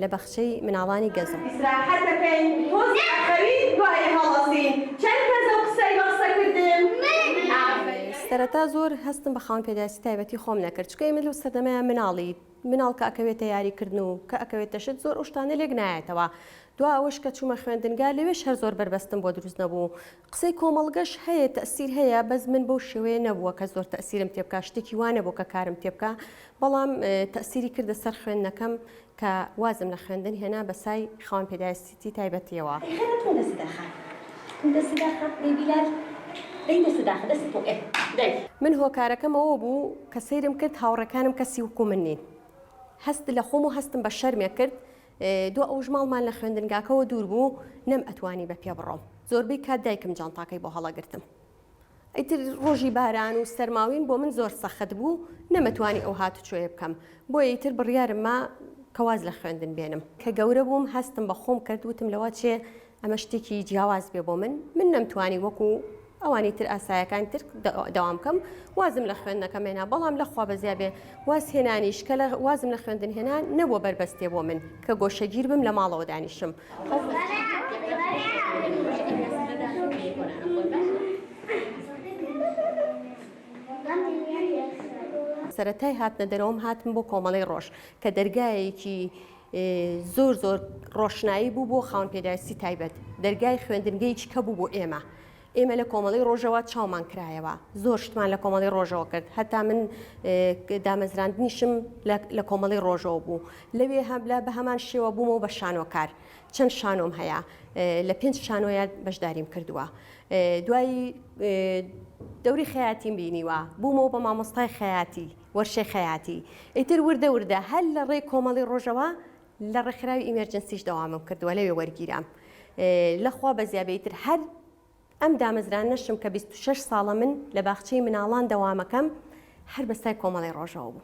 لە بەخچەی مناڵانی گەزە. ئیسراحەت دەکەین تۆز ئەخەوین دوایی هەڵەسین چەن کەزە و قسەی بە قسە کردن ئافەرین. سەرەتا زۆر هەستم بە خاوەن پێداویستی تایبەتی خۆم نەکرد چونکە ئێمە لەو سەردەمەیا مناڵی مناڵ کە ئەکەوێتە یاری کردن و کە ئەکەوێتە شت زۆر ئەو شتانە لێک نایەتەوە دوا ئەوەش کە چومە خوێندنگا لەوێش هەر زۆر بەربەستم بۆ دروست نەبوو قسەی کۆمەڵگەش هەیە تەئسیر هەیە بەس من بەو شێوەیە نەبووە کە زۆر تەئسیرم تێ بکا شتێکی وا نەبوو کە کارم تێ بکا بەڵام تەئسیری کردە سەر خوێندنەکەم کە وازم لە خوێندن هێنا بە سای خاوەن پێداێستیی تایبەتیەوە. من هۆکارەکەم ئەوە بوو کە سەیرم کرد هاوڕێکانم کەسی وکوو من نین هەست لە خۆم و هەستم بە شەرمێ کرد دوا ئەوش ماڵمان لە خوێندنگاکەوە دوور بوو نەم ئەتوانی بە پێ بڕۆم زۆربەی کات دایکم جانتاکەی بۆ هەڵەگرتم ئیتر ڕۆژی باران و سەرماوین بۆ من زۆر سەخت بوو نەمەتوانی ئەو هات چۆیە بکەم بۆ ئیتر بڕیارم ما کەواز لە خوێندن بێنم کە گەورە بووم هەستم بە خۆم کرد وتم لەوە چێ ئەمە شتێکی جیاواز بێ بۆ من من نەمتوانی وەکو ئەوانی تر ئاسایەکان تر دەوام بکەم وازم لە خوێندنەکە مێنا بەڵام لە خوا بەزیا بێ واز هێنانیش کە لە وازم لە خوێندن هێنان نەبووە بەربەستێ بۆ من کە گۆشەگیر بم لە ماڵەوە دانیشم. سەرەتای هاتنە دەرەوەم هاتم بۆ کۆمەڵەی ڕۆژ کە دەرگایەکی زۆر زۆر ڕۆشنایی بوو بۆ خاون پێداویستی تایبەت دەرگای خوێندنگەیکی کە بوو بۆ ئێمە ئێمە لە کۆمەڵی ڕۆژەوە چاومان کرایەوە زۆر شتمان لە کۆمەڵی ڕۆژەوە کرد هەتا من دامەزراندنیشم لە کۆمەڵی ڕۆژەوە بوو لەوێ هەبلا بە هەمان شێوە بوومەوە بە شانۆکار چەند شانۆم هەیە لە پێنج شانۆیان بەشداریم کردووە دوایی دەوری خەیاتیم بینیوە بوومەوە بە مامۆستای خەیاتی وەرشەی خەیاتی ئیتر وردە وردە هەر لە ڕێی کۆمەڵی ڕۆژەوا لە ڕێکخراوی ئیمێرجنسیش دەوامم کردووە لەوێ وەرگیرام لە خوا بەزیابێ ئیتر هەر ئەم دامەزرانەشم کە 26 ساڵە من لە باخچەی مناڵان دەوامەکەم هەر بە سای کۆمەڵی ڕۆژەوە بوو.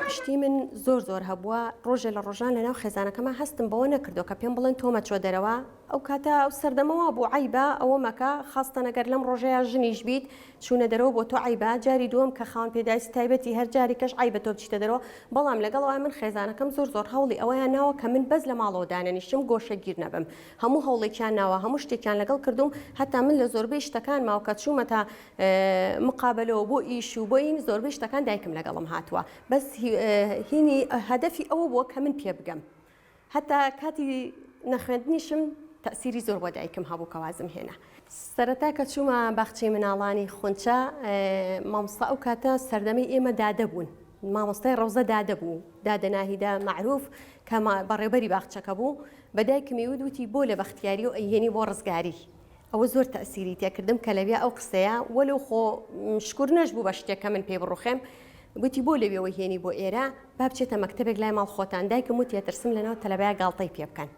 پشتی من زۆر زۆر هەبووە، ڕۆژێ لە ڕۆژان لە ناو خێزانەکەما هەستم بەوە نەکردووە کە پێم بڵێن تۆ مەچۆ دەرەوە، ئەو کاتە ئەو سەردەمە وا بوو عەیبە ئەوە مەکە، خاستەن ئەگەر لەم ڕۆژەیا ژنیش بیت چوونە دەرەوە بۆ تۆ عەیبە، جاری دووەم کە خاوەن پێداویستی تایبەتی هەر جارێکەش عەیبە تۆ بچیتە دەرەوە، بەڵام لەگەڵ ئەوەیا من خێزانەکەم زۆر زۆر هەوڵی ئەوەیان ناوە کە من بەس لە ماڵەوە دانەنیشم گۆشەگیر نەبم، هەموو هەوڵێکیان ناوە هەموو شتێکیان لەگەڵ کردووم، هەتا من لە زۆربەی شتەکانماوە کە چوومەتە مقابەلەوە بۆ ئیش و بۆ این زۆربەی شتەکان دایکم لەگەڵم هاتووە، بەس هینی هەدەفی ئەوە بووە کە من پێ بگەم هەتا کاتی نەخوێندنیشم تەسیری زۆر بۆ دایکم هەبوو کە وازم هێنا سەرەتا کە چوومە باخچەی مناڵانی خونچە مامۆستا ئەو کاتە سەردەمی ئێمە دادە بوون مامۆستای ڕەوزە دادە بوو دادە ناهیدا معروف کە بەڕێبەری باخچەکە بوو بەدایکمی ودوتی بۆ لە بەختیاری و ئەیهێنی بۆ ڕزگاری ئەوە زۆر تەئسیری تێکردم کە لەویا ئەو قسەیە وەلو خۆ شکور نەش بوو بە شتێک کە من پێی بڕوخێم گوتی بۆ لەوێەوەی هێنی بۆ ئێرە با بچێتە مەکتتەبێک لای ماڵ خۆتان دایکم و تێترسم لەناو تەلەبای گاڵتەی پێ بکەن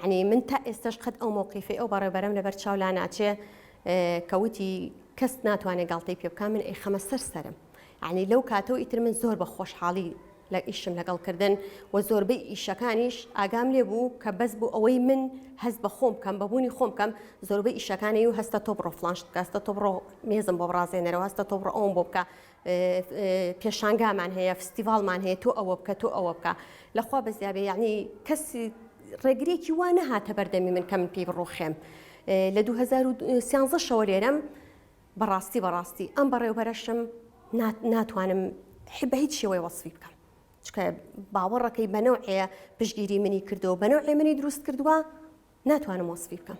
ینی من تا ئێستش قەت ئەو مۆقیفی ئەو بەڕێبەرم لەبەر چاو لا ناچێ کەوتی کەس ناتوانێت گاڵتەی پێ بکە من ئەی خەمە سەر سەرم یانی لەو کاتە و ئیتر من زۆر بە خۆشحاڵی لە ئیشم لەگەڵ کردن و زۆربەی ئیشەکانیش ئاگام لێ بوو کە بەس بوو ئەوەی من هەست بە خۆم کەم بەبوونی خۆم کەم زۆربەی ئیشەکانی و هەستە تۆ بڕۆ فلانش بکەستە تۆ بڕۆ مێزم بۆ بڕازێنەرەوە هەستە تۆ بڕۆ ئەوم بۆ بکە پێشانگامان هەیە فستیڤالمان هەیە تۆ ئەوە بکە تۆ ئەوە بکە لەخوا بەزیابێ یعنی کەسی ڕێگرێکی وا نەهاتە بەردەمی من کە من پێی بڕوخێم لە 2013 شەوە لێرەم بەڕاستی بەڕاستی ئەم بەڕێوبەرەشم نا ناتوانم حی بە هیچ شێوەی وەسفی بکەم چکە باوەڕەکەی بە نەوعەیە پشگیری منی کردەوە بە نەوعێ منی دروست کردووە ناتوانم وەسفی بکەم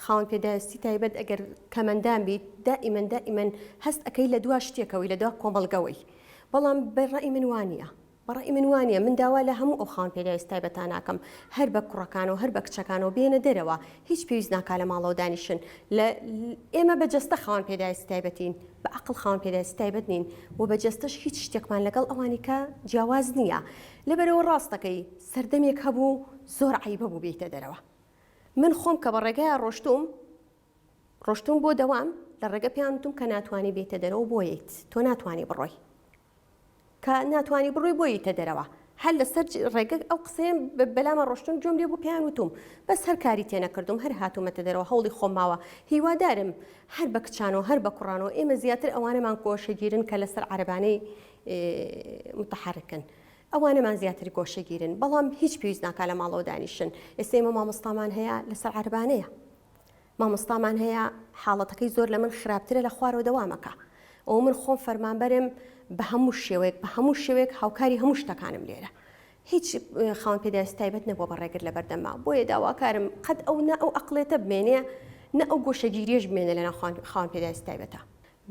خاوەن پێداویستی تایبەت ئەگەر کەمەندان بیت دائیمەن دائیمەن هەست ئەەکەی لە دوا شتێکەوەی لە دوا کۆمەلگەوەی بەڵام بەڕی من وانە بە ڕای من وا نییە، من داوا لە هەموو ئەو خاوەن پێداویستە تایبەتانە ئەکەم هەر بە کوڕەکانەوە هەر بە کچەکانەوە بێنە دەرەوە، هیچ پێویست ناکات لە ماڵەوە دانیشن، لە ئێمە بە جەستە خاوەن پێداویستی تایبەتین، بە عەقڵ خاوەن پێداویستی تایبەت نین و بە جەستەش هیچ شتێکمان لەگەڵ ئەوانیکە جیاواز نییە، لەبەرئەوە ڕاست دەکەی سەردەمێک هەبوو زۆر عەیبە بوو بێیتە دەرەوە، من خۆم کە بە ڕێگایە ڕۆشتووم ڕۆشتوم بۆ دەوام لە ڕێگە پێیان وتم کە ناتوانی بێیتە دەرەوە بۆ یت تۆ ناتوانی بڕۆی کە ناتوانی بڕۆی بۆ یتە دەرەوە هەر لەسەر ڕێگە ئەو قسەیان بەلامە ڕۆشتون جۆم لێ بۆ پێیان وتم بەس هەر کاری تێنەکردم هەر هاتوومەتە دەرەوە هەوڵی خۆماوە هیوادارم هەر بە کچانەوە هەر بە کوڕانەوە ئێمە زیاتر ئەوانەمان کۆشەگیرن کە لەسەر عربانەی متحرکن ئەوانەمان زیاتر گۆشەگیرن بەڵام هیچ پێویست ناکا لە ماڵەوە دانیشن ئێستا ئمە مامۆستامان هەیە لەسەر عربانەیە مامۆستامان هەیە حاڵەتەکەی زۆر لە من خراپترە لە خوارەوە دەوامەکە ئەو من خۆم فەرمانبەرم بە هەموو شێوەیەک بە هەموو شێوەیەک هاوکاری هەموو شتەکانم لێرە هیچ خاون پێداویست تایبەت نەبووە بە ڕێگر لە بەردەما بۆیە داواکارم قەت ئەو نە ئەو ئەقلێتە بمێنێ نە ئەو گۆشەگیریش بمێنە لە ناوخوان خاون پێداویست تایبەتە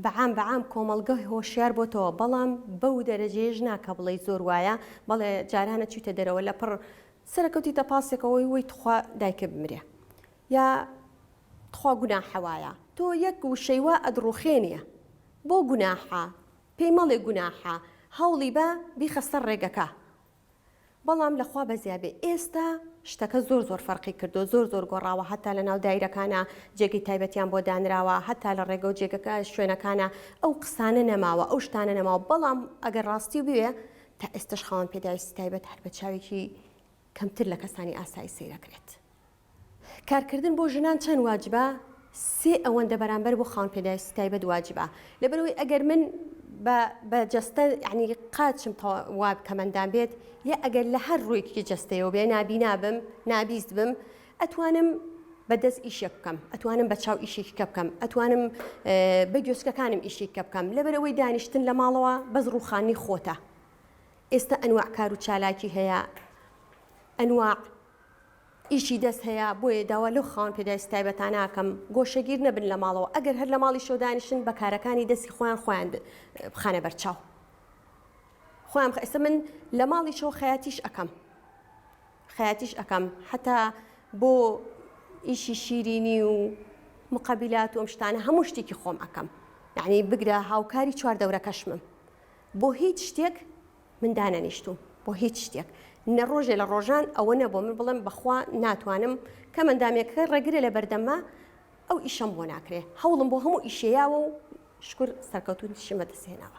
بەعام بەعام کۆمەڵگە هۆشیار بۆتەوە بەڵام بەو دەرەجەیەش نا کە بڵێی زۆر وایە بەڵێ جارانە چویتە دەرەوە لەپڕ سەرە کەوتیتە پاسێکەوەی وەی تخوا دایکە بمرێ یا تخوا گوناحە وایە تۆ یەک وشەی وا ئەدڕوخێنیە بۆ گوناحە پێی مەڵێ گوناحە هەوڵی بە بیخە سەر ڕێگەکە بەڵام لە خوا بەزیا بێ ئێستا شتەکە زۆر زۆر فەرقی کردو زۆر زۆر گۆڕاوە هەتا لە ناو دایرەکانە جێگەی تایبەتیان بۆ دانراوە هەتا لە ڕێگەو جێگەکە شوێنەکانە ئەو قسانە نەماوە ئەو شتانە نەماوە بەڵام ئەگەر ڕاستی بوێ تا ئێستەش خاوەن پێداویستی تایبەت هەر بە چاوێکی کەمتر لە کەسانی ئاسایی سەیرەکرێت. کارکردن بۆ ژنان چەند واجبە؟ سێ ئەوەندە بەرامبەر بۆ خاوەن پێداویستی تایبەت واجبە. لەبەرەوەی ئەگەر من بە جەستە عنی قاچم وا کەمەندان بێت یا ئەگەر لە هەر ڕوویەکی جەستەیەوە بێ نابینا بم، نابیست بم، ئەتوانم بە دەست ئیشێک بکەم، ئەتوانم بە چاو ئیشێکی کە بکەم، ئەتوانم بە گوێچکەکانم ئیشێک کە بکەم، لەبەر ئەوەی دانیشتن لە ماڵەوە بەس ڕووخانی خۆتە. ئێستا ئەنواع کار و چالاکی هەیە، ئەنواع ئیشی دەست هەیە، بۆیە داوا لەو خاوەن پێداویستە تایبەتانە ئەکەم گۆشەگیر نەبن لە ماڵەوە، ئەگەر هەر لە ماڵیشەوە دانیشن بە کارەکانی دەستی خۆیان خۆیان بخەنە بەرچاو. خۆیان بخ، ئێستا من لە ماڵیشەوە خەیاتیش ئەکەم. خەیاتیش ئەکەم حەتا بۆ ئیشی شیرینی و مقابلات و ئەم شتانە هەموو شتێکی خۆم ئەکەم یعنی بگرە هاوکاری چوار دەورەکەشمم بۆ هیچ شتێک من دانەنیشتوم بۆ هیچ شتێک نە ڕۆژێ لە ڕۆژان ئەوە نەبوو من بڵێم بەخوا ناتوانم کە مندامێکە ڕێگرە لە بەردەمە ئەو ئیشەم بۆ ناکرێ هەوڵم بۆ هەموو ئیشەیەوە و شکر سەرکەوتوتیشمە دەسێنەوە